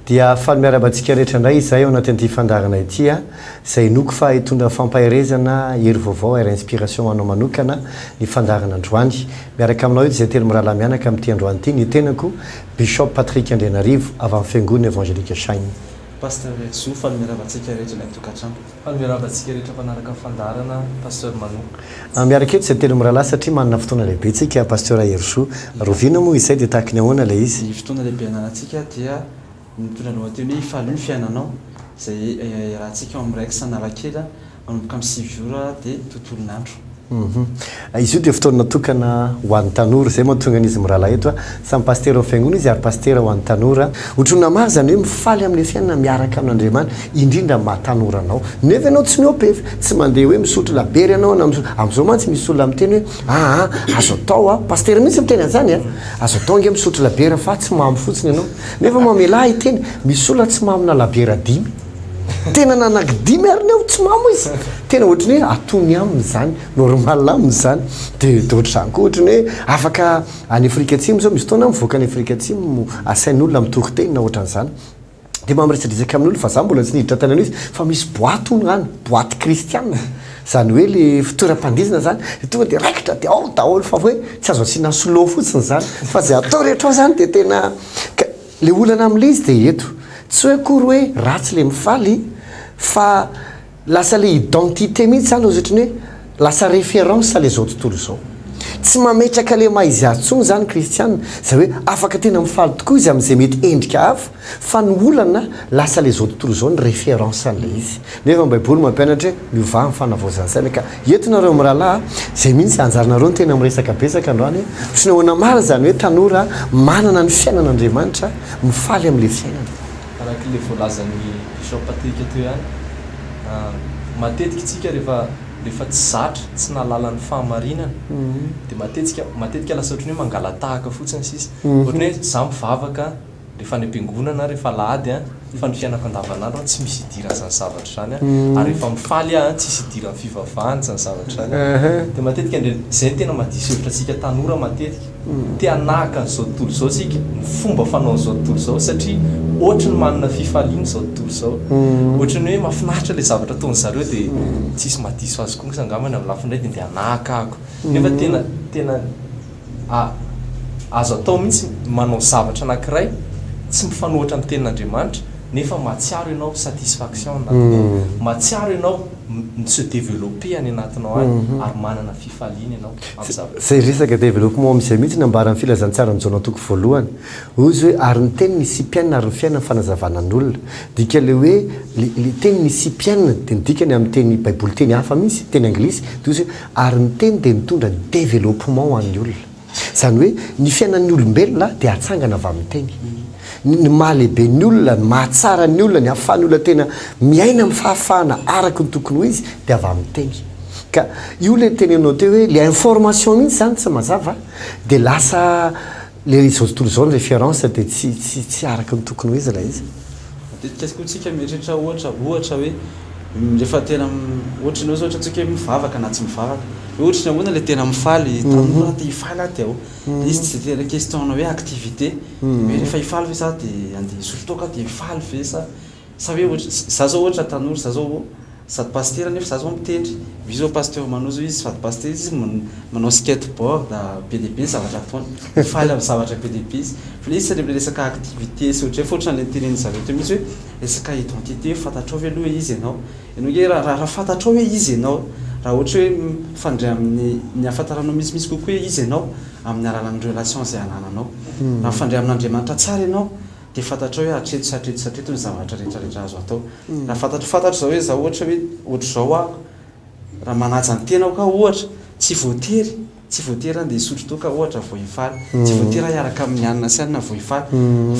dia faly miaraba antsika rehetra indray izay ao anaty an'ity fandarana ity a izay noko fa hitondra fampaherezana hery vaovao ary inspiration anao manokana ny fandarana androany miaraka aminao eto izay telo mirahalahy mianaka amin'ity androany ity ny tenako Bishop Patrick Andrianarivo avy amin'ny fiangonana Evangelique Shine Pasteur Metso, fanome rava antsika rehetra ilay tokantrano. Fanome rava antsika rehetra mpanaraka ny fandaharana Pasteur Manou. Ah, miaraka eto izay telo mirahalahy satria manana fotoana lehibe tsika, Pasteur Herisoa. Rovina moa izay dia tahaky ny ahoana ilay izy? Ny fotoana lehibe ananantsika dia ny mitondra ny lohateny hoe Ifalio ny fiainanao izay iarahantsika ao amin'ny Rex Analakely Manomboka amin'ny sivy ora dia tontolon'andro. Izy io dia fotoana natokana ho an'ny tanora. Izay mahatonga an'izy mirahalahy eto. Samy pasitera ao amin'ny fiangonana izy ary pasitera ho an'ny tanora. Ohatran'ny maro izany hoe mifaly amin'ny fiainana miaraka amin'Andriamanitra, indrindra amin'ny maha tanora anao. Nefa ianao tsy miopefy, tsy mandeha hoe misotro labiera ianao na misotro. Amin'izao mantsy misy olona miteny hoe, aa, azo atao an, pasitera mihitsy miteny an'izany an, azo atao ange misotro labiera fa tsy mamo fotsiny ianao. Nefa mamelà hiteny, misy olona tsy mamona labiera dimy. Tena nanaky dimy ary ny aho tsy mamo izy. Tena ohatry ny hoe atony aminy izany, normal aminy izany. Dia dia ohatry izany koa ohatry ny hoe afaka any Afrika Atsimo izao misy fotoana aho mivoaka any Afrika Atsimo asain'olona mitory teny na ohatran'ny izany. Dia maha miresadresaka amin'olona fa izaho mbola tsy niditra tany amin'izy fa misy boaty hono any, boaty kristiana. Izany hoe ilay fitoeram-pandihizana izany. Dia tonga dia raikitra dia ao daholo fa hoe tsy azo asiana slow fotsiny izany fa izay atao rehetra ao izany dia tena ka. Le olana amin'le izy de eto. Tsy hoe akory hoe ratsy le mifaly fa lasa le identité mihitsy zany ohatry ny hoe lasa référence le zao tontolo izao. Tsy mametraka le maha izy azy tsony zany kristiana zay hoe afaka tena mifaly tokoa izy amin'izay mety endrika hafa fa ny olana lasa le zao tontolo izao ny référence an'le izy. Nefa ny baiboly mampianatra hoe miovà ny fanavaozan'ny saina ka Eto nareo mirahalahy a, zay mihintsy anjaranareo ny tena miresaka betsaka androany a, tsy nahoana marina izany hoe tanora manana ny fiainana Andriamanitra, mifaly amin'ilay fiainana. Araka ilay voalazan'ny Bishop Patrick teo ihany, matetika isika rehefa rehefa tsy zatra, tsy nahalala ny fahamarinana dia matetika matetika lasa ohatran'ny hoe mangalatahaka fotsiny sisa, ohatran'ny hoe za mivavaka rehefa any am-piangonana aho, rehefa alahady an, fa ny fiainako andavanandro an, tsy misy idiran' izany zavatra izany an, ary rehefa mifaly aho an, tsisy idiran'ny fivavahana izany zavatra izany an, dia matetika indray, izay no tena mahadiso hevitra antsika tanora matetika, te hanahaka an'izao tontolo izao isika, ny fomba fanaon'izao tontolo izao, satria ohatry ny manana fifaliana izao tontolo izao, ohatry ny hoe mahafinaritra ilay zavatra ataon'ny zareo dia tsisy mahadiso azy koa kosa angambany amin'ny lafiny iray dia ndeha hanahaka ahako, nefa tena, tena. A, Azo atao mihitsy ny manao zavatra anankiray tsy mifanohatra amin'ny tenin'Andriamanitra nefa mahatsiaro ianao satisfaction any anatiny ao, mahatsiaro ianao mi-se developper any anatinao any ary manana fifaliana ianao amin'ny zavatra. Izay resaka développement amin'izay mihitsy no ambaran'ny Filazantsaran'i Jaona toko voalohany. Hoy izy hoe, ary ny Teny nisipianina ary ny fiainana fanazavana ny olona. Dika ilay hoe, ilay teny nisipianina dia ny dikany amin'ny teny baiboly teny hafa mihitsy, teny anglisy, dia hoy izy hoe, Ary ny Teny dia nitondra ny developpement ho an'ny olona. Izany hoe ny fiainan'ny olombelona dia atsangana avy amin'ny Teny. Ny ny maha lehibe ny olona, ny maha tsara ny olona, ny ahafahan'ny olona tena miaina amin'ny fahafahana araka ny tokony ho izy dia avy amin'ny Teny. Ka io ilay tenenao teo hoe ilay information mihitsy izany tsy mazava dia lasa Ilay izao tontolo izao ny référence dia tsy tsy tsy araka ny tokony ho izy ilay izy. Matetika koa tsika mieritreritra ohatra ohatra hoe rehefa tena ohatry ny hoe zao ohatra tsika hoe mivavaka na tsy mivavaka hoe ohatry ny ahoana ilay tena mifaly taminy hoe te hifaly aho dia ahoana dia izy tsy dia tena question-na hoe activité hoe rehefa hifaly ve za dia andeha hisolo toaka dia hifaly ve sa Sa ve ohatra, za zao ohatra tanora, za zao sady pasitera nefa za zao mitendry, vy zao pasteur Manao zao izy sady pasitera izy, manao skate board be dia be zavatra ataony, mifaly amin'ny zavatra be dia be izy, fa ilay izy tsy resaka activité sy ohatr'izay fa ohatra ny antenainy zareo teo mihitsy hoe resaka identité hoe fantatrao ve aloha hoe iza ianao, ianao nge ra ra fantatrao hoe iza ianao, raha ohatra hoe mifandray amin'ny ny ahafantaranao misimisy kokoa hoe iza ianao amin'ny alalan'ny relation izay anananao, raha mifandray amin'Andriamanitra tsara ianao, dia fantatrao hoe hatreto sy hatreto sy hatreto ny zavatra rehetra rehetra azo atao. Raha fantatro fantatro izao hoe izaho ohatra hoe ohatr'izao aho, raha manaja ny tenako aho ohatra, tsy voatery tsy voatery handeha hisotro toaka ohatra vao hifaly, tsy voatery hiaraka amin'ny anona sy anona vao hifaly,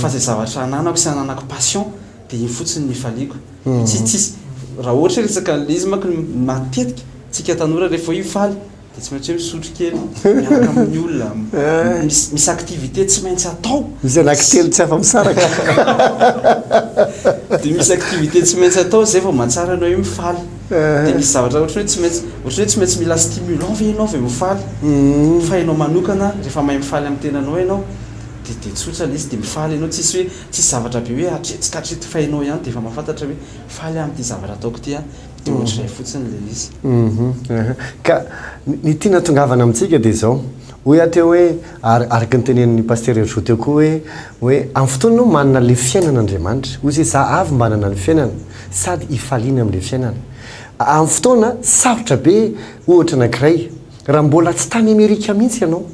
fa izay zavatra ananako sy ananako passion dia iny fotsiny no hifaliako. Tsy tsisy, raha ohatra hoe resaka an'ilay izy manko matetika tsika tanora rehefa hoe hifaly, Dia tsy maintsy hoe misotro kely, miaraka amin'ny olona, misy, misy activité tsy maintsy atao. Misy anakitelo tsy afa-misaraka. Dia misy activité tsy maintsy atao, izay vao mahatsara anao hoe mifaly. Eh. Dia misy zavatra ohatry ny hoe tsy maintsy, ohatry ny hoe tsy maintsy mila stimulant ve ianao vao mifaly? Uhm. Fa ianao manokana, rehefa mahay mifaly amin'ny tenanao ianao, dia, dia tsotra ilay izy, dia mifaly ianao, tsisy hoe, tsisy zavatra be hoe hatreto ka hatreto, fa ianao ihany dia efa mahafantatra hoe faly aho amin'ity zavatra ataoko ity aho. de mhm. ohatr'izay fotsiny le izy mhm. ka ny tiana tongavana amintsika dia izao hoy aho teo hoe ary araka ny tenenin'ny pasteur Herjo teo koa hoe hoe amin'ny fotoana no manana le fiainana Andriamanitra hoy izy za avy manana ny fiainana sady ifaliana amin'le fiainana amin'ny fotoana sarotra be ohatra anankiray raha mbola tsy tany Amerika mihitsy ianao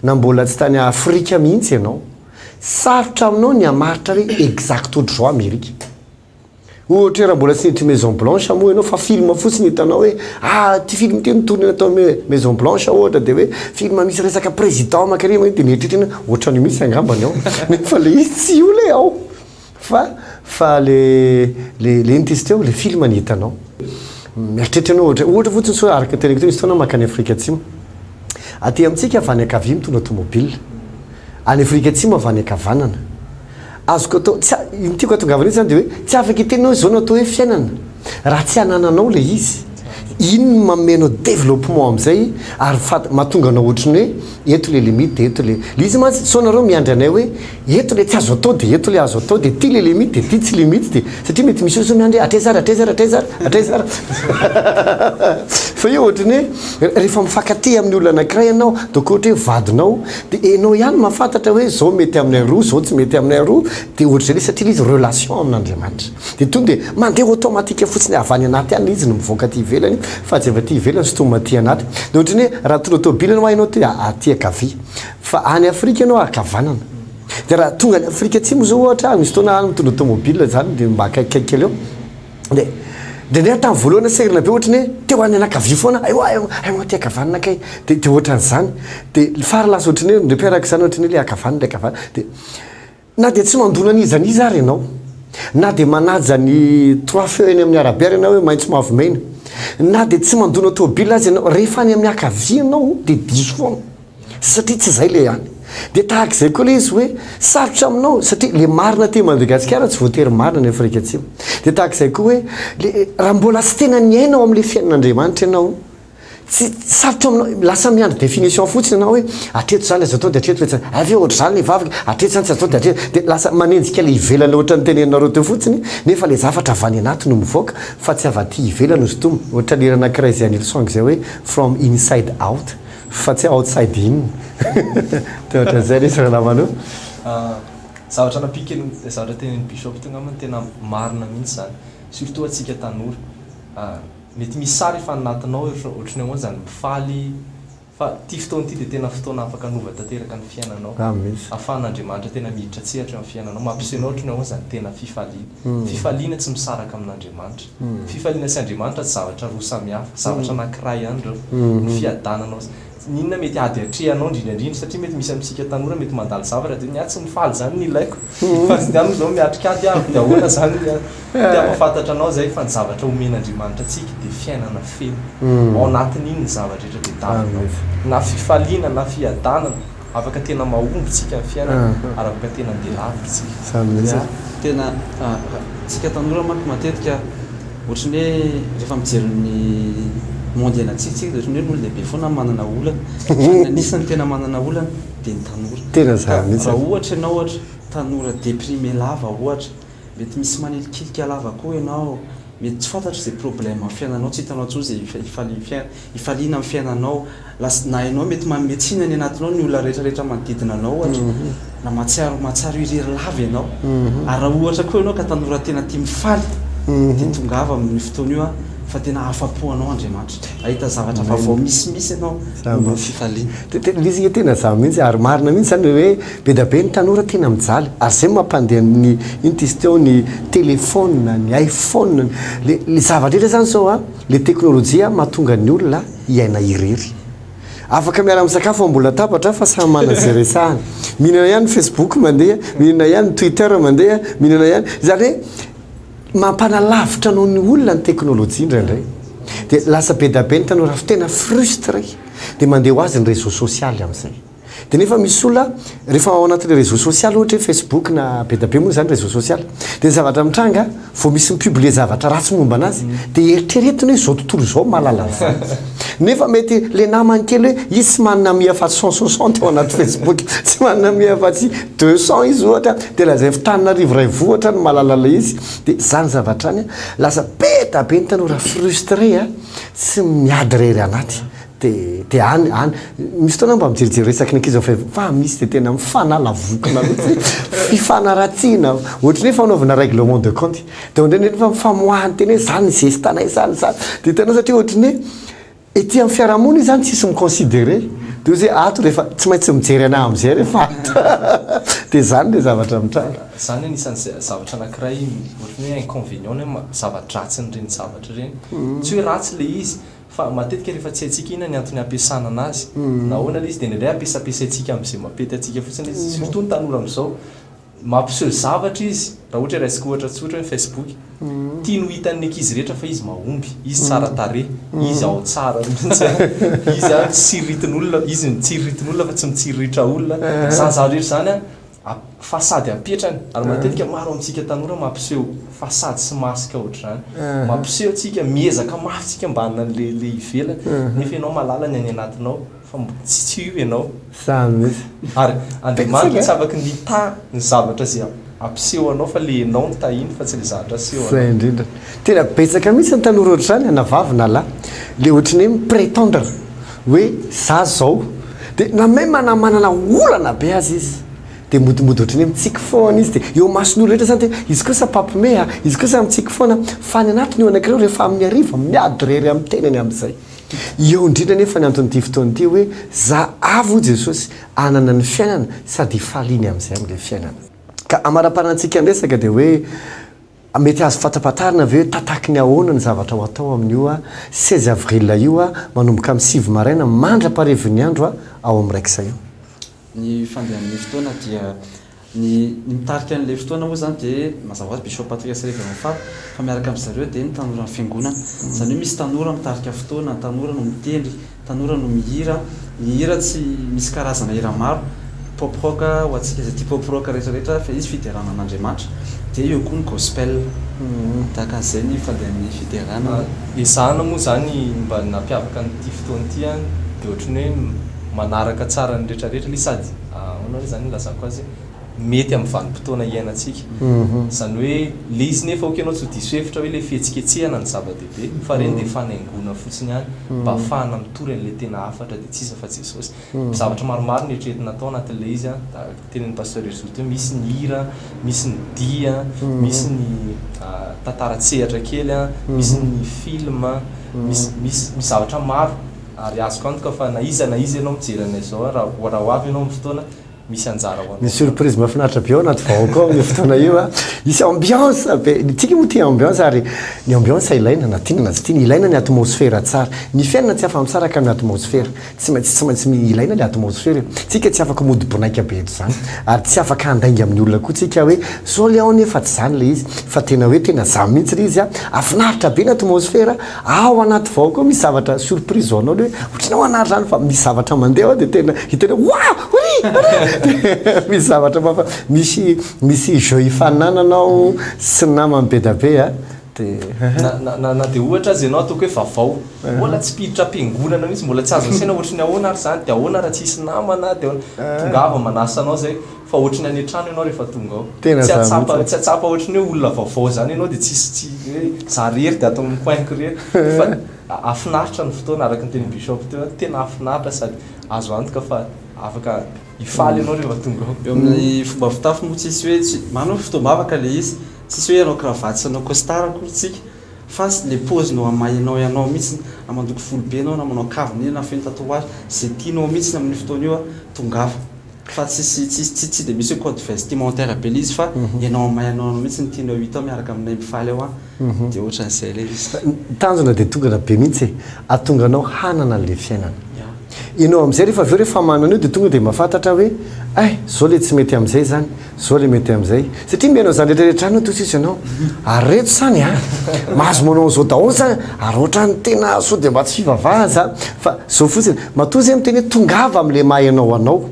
na mbola tsy tany Afrika mihitsy ianao sarotra aminao ny hamaritra hoe exacto ohatr'izao Amerika Ohatra hoe raha mbola tsy niditra Maison Blanche moa ianao fa film fotsiny hitanao hoe ah ity film ity ni-tourner tao Maison Blanche ohatra dia hoe film misy resaka président mankany dia mieritreritra ianao hoe ohatran'io mihitsy angambany ao nefa ilay izy tsy io ilay ao fa fa ilay ilay intesite ao ilay film no hitanao. Mieritreritra ianao ohatra ohatra fotsiny sao araka ny teneniko teo misy fotoana aho mankany Afrika Atsimo, aty amintsika avy any ankavia mitondra tomobile, any Afrika Atsimo avy any ankavanana. Azoko atao, tsy a, ny tiako atongavana eto zany de hoe tsy afaka hiteny hoe zao no atao hoe fiainana raha tsy anananao le izy. Iny no manome anao développement amizay ary fat, mahatonga anao otriny hoe eto le limite, eto le. Le izy mantsy, sao nareo miandry anay hoe eto le tsy azo atao de eto le azo atao de ity le limite de ity tsy limite de, satria mety misy olo sao miandry hoe hatraiza ary hatraiza ary hatraiza ary hatraiza ary fa io otriny hoe refa mifankatia amin'ny olona anakiray ianao donc ohatra hoe vadinao Dia enao ihany mahafantatra hoe izao mety aminay aroa, izao tsy mety aminay aroa, dia ohatr'izay le satria le izy relation amin'Andriamanitra. Dia tonga dia mandeha automatique fotsiny avy any anaty any le izy no mivoaka aty ivelany fa tsy avy aty ivelany sintomina aty anaty. Dia ohatrany hoe raha tondra tôbily enao hainao ty aty ankavia fa any Afrika enao ankavanana. Dia raha tonga any Afrika atsimo zao ohatra misy fotoana any mitondra tômôbila zany dia mba akaikikaiky kely eo. de ndraindray tamin'ny voalohany aho sahirana be ohatra ny hoe te ho any anakavia foana ay ho'a ay ho'a ty ankavanana kay de de ohatran'izany de ny farany lasa ohatra ny hoe ndraipa araka izany ohatra ny hoe le ankavanana le ankavanana de na de tsy mandona an'iza an'iza ary ianao na de manaja ny trois feux eny amin'ny arabe ary ianao hoe maitso mavo mena na de tsy mandona tôbila aza ianao rehefa any amin'ny akavia ianao de diso foana Satria tsy izay ilay any. Dia tahaka izay koa ilay izy hoe sarotra aminao satria ilay marina aty Madagasikara tsy voatery marina any Afrika Atsimo. Dia tahaka izay koa hoe le raha mbola tsy tena niaina ao amin'ilay fiainan'Andriamanitra ianao, tsy, sarotra aminao, lasa miandry définition fotsiny ianao hoe hatreto izany aza atao dia hatreto ve tsy, hay ve ohatra izany ilay vavaka, hatreto izany tsy azo atao dia hatreto, dia lasa manenjika ilay ivelany ohatra ny teneninareo teo fotsiny nefa ilay zavatra avy any anaty no mivoaka fa tsy avy aty ivelany hosintomina, ohatra ny hira anankiray izay an'i Hillsong izay hoe From Inside Out. Fa tsy outside in. Dia ohatran'izay ilay izy ranamana io. Zavatra nampiako aloha, ilay zavatra tenenin'i Bishop teo angambany tena marina mihitsy izany. Surtout antsika tanora. Mety misy sary efa any anatinao ohatry ny ahoana izany, mifaly, fa ity fotoana ity dia tena fotoana afaka hanova tanteraka ny fiainanao. Ahafahan'Andriamanitra tena miditra an-tsehatra eo amin'ny fiainanao. Mampiseho anao ohatry ny ahoana izany tena fifaliana. Fifaliana tsy misaraka amin'Andriamanitra. Fifaliana sy Andriamanitra tsy zavatra roa samy hafa, zavatra anankiray ihany ireo. Ny fiadananao sy ny inona mety ady atrehanao indrindra indrindra satria mety misy amintsika tanora mety mandalo zavatra dia ny ahy tsy mifaly izany no ilaiko fa tsy dia any moa izao miatrika ahy dia avy dia ahoana izany ny ahy. Dia hampahafantatra anao izay fa ny zavatra omen'Andriamanitra antsika dia fiainana feno. Ao anatin'iny ny zava-drehetra tadiavinao. Na fifaliana na fiadanana. Afaka tena mahomby tsika ny fiainana ary afaka tena andeha lavitra tsika. Zany mihitsy e. Tena tsika tanora manko matetika ohatran'ny hoe rehefa mijery ny monde ianantsika tsika de ohatran'ny hoe ny olon-dehibe foana manana olana fa ny anisany tena manana olana de ny tanora. Tena zany mihitsy e. Raha ohatra ianao ohatra tanora deprime lava ohatra. Mety misy manilikilika lava koa ianao, mety tsy fantatro izay problème amin'ny fiainanao, tsy hitanao intsony izay hifaliana amin'ny fiainanao, lasa na ianao mety manome tsiny any anatinao ny olona rehetra rehetra manodidina anao ohatra, na mahatsiaro mahatsiaro irery lava ianao, ary raha ohatra koa ianao ka tanora tena tia mifaly dia tongava amin'io fotoana io aho fa tena afa-po anao Andriamanitra, hahita zavatra vaovao misimisy ianao momba ny fifaliana. Tena izy nge tena zah mihitsy ary marina mihitsy zany hoe. Be da be ny tanora tena mijaly ary zay no mampandeha ny ino t'izy teo ny telephone, ny iphone, le le zavatra rehetra zany zao a, le teknolojia mahatonga ny olona hiaina irery. Afaka miara misakafo ambony latabatra fa samy manana ze resahany. Mihinana ihany ny facebook mandeha, mihinana ihany ny twitter mandeha, mihinana ihany, zany hoe mampanalavitra anao ny olona ny teknolojia indraindray. De lasa be da be ny tanora tena frustre dia mandeha ho azy ny réseau social amizay. Dia nefa misy olona rehefa ao anatin'ny réseau social ohatra hoe facebook na bedabe moa izany réseau social dia ny zavatra mitranga vao misy mi-publier zavatra ratsy momba anazy dia eritreretiny hoe izao tontolo izao mahalala vady nefa mety ilay namany kely hoe izy tsy manana ami afatsy cent soixante ao anaty facebook tsy manana ami afatsy deux cent izy ohatra dia lazainy fa Tananarivo iray vohitra no mahalala ilay izy dia izany zavatra izany lasa be dia be ny tanora frustre a tsy miady irery anaty Dia dia any any misy fotoana aho mba mijerijery resaky ny ankizy fa fa misy dia tena mifanala vokona mihitsy fifanaratsiana ohatry ny hoe fanaovana règlement de compte dia ohatry ny hoe mifamoahany teny hoe izany ny zestanay izany izany dia hitanao satria ohatry ny hoe ety amin'ny fiarahamonina izy izany tsisy mi-considerer dia ohatry hoe ato rehefa tsy maintsy mijery anah amin'izay rehefa ato dia izany ilay zavatra mitranga. Izany anisan'ny zavatra anankiray ohatry ny hoe inconvénient na hoe zava-dratsin'ireny zavatra ireny tsy hoe ratsy ilay izy Fa matetika rehefa tsy haintsika inona ny antony hampiasana anazy na ahoana ilay izy dia indraindray ampiasampiasaintsika amin'izay mampety antsika fotsiny izy. Surtout ny tanora amin'izao, mampiseho zavatra izy, raha ohatra hoe raisiko ohatra tsotra hoe ny Facebook, tiany ho hitan'ny ankizy rehetra fa izy mahomby, izy tsara tarehy, izy ao tsara mihitsy an, izy an tsy iriritin'olona, izy mitsiririty ny olona fa tsy mitsiriritra olona, izany zavatra rehetra izany an, A, Fa sady ampitrany, ary matetika maro amintsika tanora mampiseho fa sady sy masika ohatr'izany. Mampiseho tsika, miezaka mafy tsika mba hanana an'le le ivelany, nefa ianao malala ny any anatinao fa mbo tsy tsy io ianao. Zany mihitsy. Ary Andriamanitra tsy afaky mitaha ny zavatra ze ampiseho anao fa le enao no tahiny fa tsy le zahatra aseho anao. Zay indrindra. Tena betsaka mihitsy ny tanora ohatr'izany na vavy na lahy, le ohatrin'ny hoe mi-pretendre Hoe za zao, dia na même na manana olana be aza izy dia modimbody ohatran'ny hoe mitsiky foana izy dia eo mason'olo rehetra zany dia izy kosa mpampimehy a, izy kosa mitsiky foana fa any anatiny io anakireo rehefa amin'ny hariva miady irery amin'ny tenany amin'izay. Eo indrindra anefa ny anton'ity fotoana ity hoe za avy hoy Jesosy hanana ny fiainana sady hifaliany amin'izay amin'ilay fiainana. Ka amaraparantsika ny resaka dia hoe. Mety azo fantapatarina ve hoe tataky ny ahoana ny zavatra ho atao amin'io 16 avril io manomboka amin'ny sivy maraina mandra-paharivon'ny andro ao amin'ny Rex io? Ny fandehan'ny fotoana dia ny ny mitarika an'ilay fotoana moa izany dia mazava ho azy Bishop Patrias Reverend Fab fa miaraka amin'izareo dia ny tanoran'ny fiangonana. Izany hoe misy tanora mitarika fotoana, tanora no mitendry. Tanora no mihira, ny hira tsy misy karazana hira maro, pop rock ho antsika izay tia pop rock rehetra rehetra fa izy fiderana an'Andriamanitra, dia eo koa ny gospel, tahaka an'izay ny fandehan'ny fiderana. Ezahana moa izany ny mba nampiavaka an'ity fotoana ity an, dia ohatry ny hoe manaraka tsara ny rehetra rehetra le sady ahoana re zany ilazako azy, mety amin'ny vanim-potoana iainantsika, izany hoe le izy nefa ok ianao tsy ho diso hevitra hoe le fihetsiketsehana ny zava-dehibe. dia ny farihy dia fanaingoana fotsiny ihany mba hahafahana mitory an'ilay tena hafatra dia tsy iza fa Jesosy. Zavatra maromaro no eritreretina atao anatin'ilay izy an, tahaka tenenin'i Pasteur Hery Zoto hoe misy ny hira, misy ny dihy, misy ny tantara an-tsehatra kely an, misy ny film, misy misy misy zavatra maro ary azoko antoka fa na iza na iza ianao mijery anay izao an, raha raha ho avy ianao amin'ny fotoana, misy anjara ho anao. Misy surprise mahafinaritra be ao anaty vahoaka ao amin'io fotoana io a. Misy ambiance be. Ny tsika moa tia ambiance ary ny ambiance ilaina na tiana na tsy tiana. Ilaina ny atmosphère tsara. Ny fiainana tsy afa-misaraka amin'ny atmosphère. Tsy maintsy tsy maintsy ilaina ilay atmosphère e. Tsika tsy afaka mody bonaika be eto izany ary tsy afaka handainga amin'ny olona koa tsika hoe sao le ao anie fa tsy izany ilay izy fa tena hoe tena za mihitsy ilay izy a. Hafinaritra be ny atmosphère. Ao anaty vao koa misy zavatra surprise ho anao le hoe ohatranao hanary zany fa misy zavatra mandeha ao de tena hitanao waouh ry ry misy zavatra mafa misy misy jeux hifaninananao sy ny namany be da be a de Na na na na de ohatra aza ianao ataoko hoe vavao mbola tsy mpiditra am-piangonana mihitsy mbola tsy azo asaina ohatry ny ahoana ary zany de ahoana raha tsy hisy namana de ahoana tongava manasa anao zay Fa ohatry ny any an-trano ianao rehefa tonga ao. Tena za mihitsy a. Tsy atsapa ohatry ny hoe olona vaovao izany ianao dia tsisy tsy hoe za irery dia ato amin'ny coin-ko irery. Fa hafinaritra ny fotoana araka ny tenin'i Bishop teo a, tena hafinaritra sady azo antoka fa afaka hifaly ianao rehefa tonga ao. Eo amin'ny fomba fitafy moa tsisy hoe tsy, manana hoe fotoam-bavaka ilay izy, tsisy hoe hanao cravate sy hanao costard akory tsika fa ilay pôziny eo amahinao ianao mihitsiny, na mandoko volo be ianao na manao kavina iny na feno tatouage, izay tianao mihitsiny amin'io fotoana io a, tongafa. Fa tsisy tsisy tsy dia misy hoe code vestimentaire be le izy fa ianao may anao anao mihitsy ny tianao hita ao miaraka aminay mifaly ao an dia ohatran'izay ilay izy. Ny tanjona dia tongana be mihitsy e, ahatonga anao hanana an'ilay fiainana. Ianao amin'izay rehefa avy eo rehefa manana io dia tonga dia mahafantatra hoe ay zao ilay tsy mety amin'izay izany, Zao le mety amzay. Satria mihaino zany rehetra rehetra zany hono sisa ianao. Ary reto zany a, mahazo manao anzao daholo zany ary ohatrany tena sao dia mba tsy fivavahana zany fa zao fotsiny. Matoa zay miteny hoe tongava amle maha enao anao.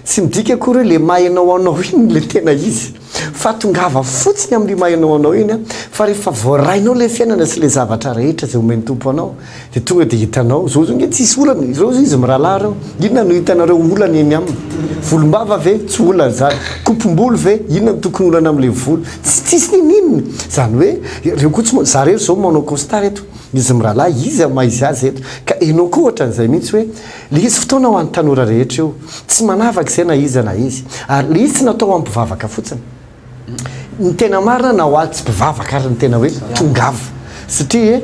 Tsy midika akory hoe le maha enao anao iny le tena izy. Fa tongava fotsiny amle maha enao anao iny a. Fa rehefa voarainao le fiainana sy le zavatra rehetra zay omen'ny Tompo anao. Dia tonga dia hitanao, zao zao nge tsisy olana, ireo zao izy mirahalahy reo, inona no hitanareo olana eny aminy? Volombava ve? Tsy olana zany. Kopom-bolo ve? Inona no tokony olana amin'ilay volo? Tsy tsisy niniana. Zany hoe, reo koa tsy manao, za rery zao manao costard eto, izy mirahalahy, iza maha izy azy eto? Ka enao koa ohatran'izay mihitsy hoe, le izy fotoana ho an'ny tanora rehetra io, tsy manavaka izay na iza na iza, ary le izy tsy natao hampivavaka fotsiny. Ny tena marina na ho ahy tsy mpivavaka ary ny tena hoe tongava satria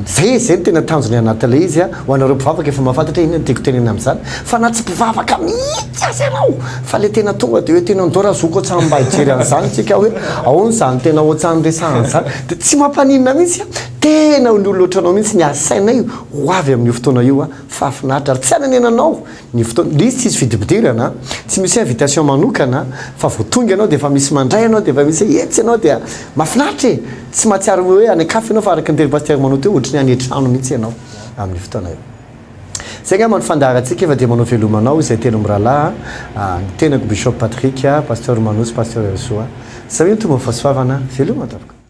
zay zay no tena tanjony anatin'ilay izy an, ho anareo mpivavaka efa mahafantatra hoe inona no tiako tenenina amin'izany fa na tsy mpivavaka mihitsy aza ianao fa le tena tonga de hoe tena ndao ra zoky otsan mba hijery an'izany tsika hoe aona zany tena otsan niresahana zany de tsy mampaninona mihitsy an, tena ny olona otranao mihitsy ny asainay ho avy amin'io fotoana io an, fahafinaritra ary tsy hanenenanao. Ny fotoana, le izy tsisy fidipidirana a, tsy misy hoe invitation manokana fa vao tonga ianao dia efa misy mandray anao dia efa misy hoe etsy ianao dia mahafinaritra e! tsy mahatsiaro hoe any an-kafa ianao fa araka ny teny Pasteur Manao teo ohatry ny any an-trano mihitsy ianao amin'io fotoana io. Zay angamba no fandaharantsika fa dia manao veloma anao izay telo mirahalahy a, ny tenako Bishop Patrick, Pasteur Manao sy Pasteur Herisoa. Zay hoy ny Tompo mifasoavana, veloma tompoko.